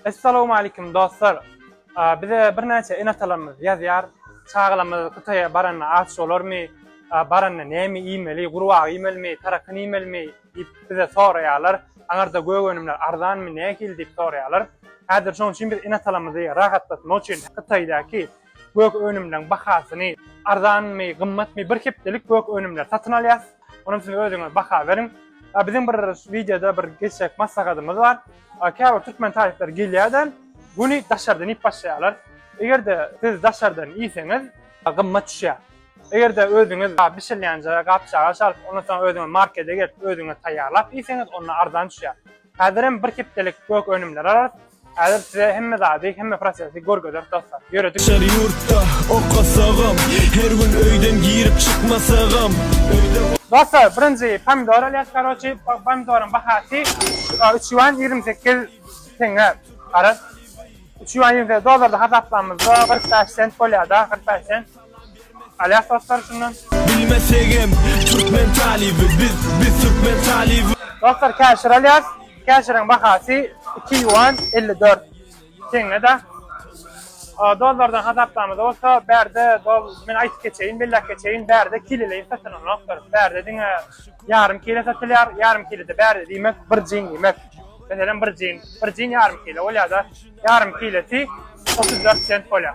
Essalowmalikim dostlar. Bize birnäçe ene-atalarymyz ýazýar, Çagalarymyz Hytaýa baranda aç bolarmy? Baranda näme iýmeli? Gurbaga iýmelimi? Tarakyn iýmelimi? diýip bize soraýarlar. Aňarda gök önümler arzanmy, nähili diýip soraýarlar. Häzir şonuň üçin biz ene-atalarymyzy rahatlatmak üçin Hytaýdaky gök önümleriň bahasyny, arzanmy, gymmatmy, bir hepdelik gök önümleri satyn alýarys. Onuň üçin özüňiz baha beriň. Biziň bir wideoda bir geçjek maslahatymyz bar. Käbir türkmen talyplary gelýärde, güni daşardan iýip başlaýarlar. Eger-de siz daşardan iýseňiz, gymmat düşýär. Eger-de özüňiz bişirilýänje gap-çagaç alyp, ondan soň özüňiz markete gelip, özüňiz taýýarlap iýseňiz, onda arzan düşýär. Häzirem bir hepdelik gök önümleri alarys. Häzir size hemme zady, hemme prosesi görkezeris dostlar. Ýöredik. Çar ýurtda okasagam, her gün öýden girip çykmasagam, öýde Dostlar, birinji pomidor alýas, karoçi, pomidoryň bahasy 3 ýuan 28 teňňe. Garaz, 3 ýuan 28 dollarda hasaplamyzda 45 sent bolýar-da, 45 sent. Aýak dostlar şundan. Bilmesegem türkmen talyby biz biz türkmen talyby. Dostlar käşir alýas. Käşiriň bahasy iki ýuan elli dört teňňe-de. Dollardan hasaplamada bolsa bärde dol men aýdyp geçeýin, belläp geçeýin, bärde kileleýin satylynokdyr. Bärde diňe ýarym kile satylýar. Ýarym kile-de bärde diýmek bir jin diýmek. Meselem bir jin, bir jin ýarym kile bolýar-da. Ýarym kilesi otuz dört sent bolýar.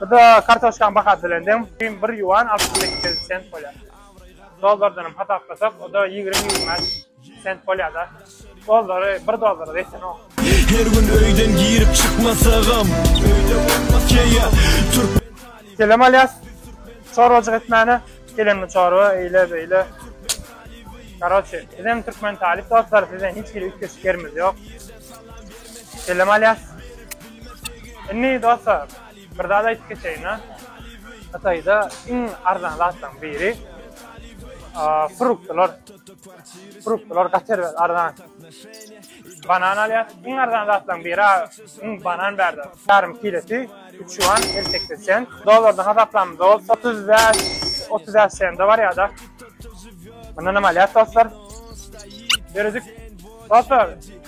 Burada kartoşkan bahasy bilen deň, kim bir yuan altmyş sekiz sent bolýar. Dollardan hem hasaplasak, o da ýigrimi ýigrimi bäş sent bolýar-da. Dollary bir dollara desenok. Her gün öýden girip çykmasagam öýde bolmaz keýe türk Selam Alyas. Çorbajyk etmäne. Gelenmi çorba, eýle beýle. Karoçe, bizem türkmen talyp dostlar, bizden hiç hili üýtgeşik ýerimiz ýok. Selam Alyas. Indi dostlar, bir zat aýdyp geçeýin-ä. Hytaýda iň arzan zatlaryň biri fruktlar. Fruktlar gaty arzan. Banan alýar. Iň arzan zatlaryň biri iň banan bärde. Ýarym kilesi 3 ýuan 58 sent. Dollarda hasaplamda bolsa 35-35 sente barýar-da. Mundan hem alýar dostlar. Ýöredik. Dostlar,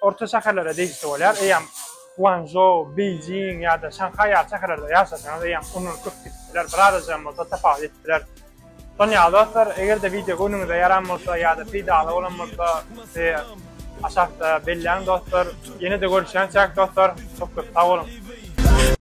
Orta şäherlere degişli bolýar. Eýýäm Guanzhou, Beýjing ýa-da Şanhaý ýaly şäherlerde ýaşasaňyz, eýýäm unulyp köp gidip biler, birazajygam bolsa tapawut edip biler. Şonuň ýaly dostlar, eger-de wideo göwnüňize ýaran bolsa ýa-da peýdaly bolan bolsa, bizi aşakda belläň dostlar. Ýene-de görüşýänçäk dostlar, köp-köp sag boluň!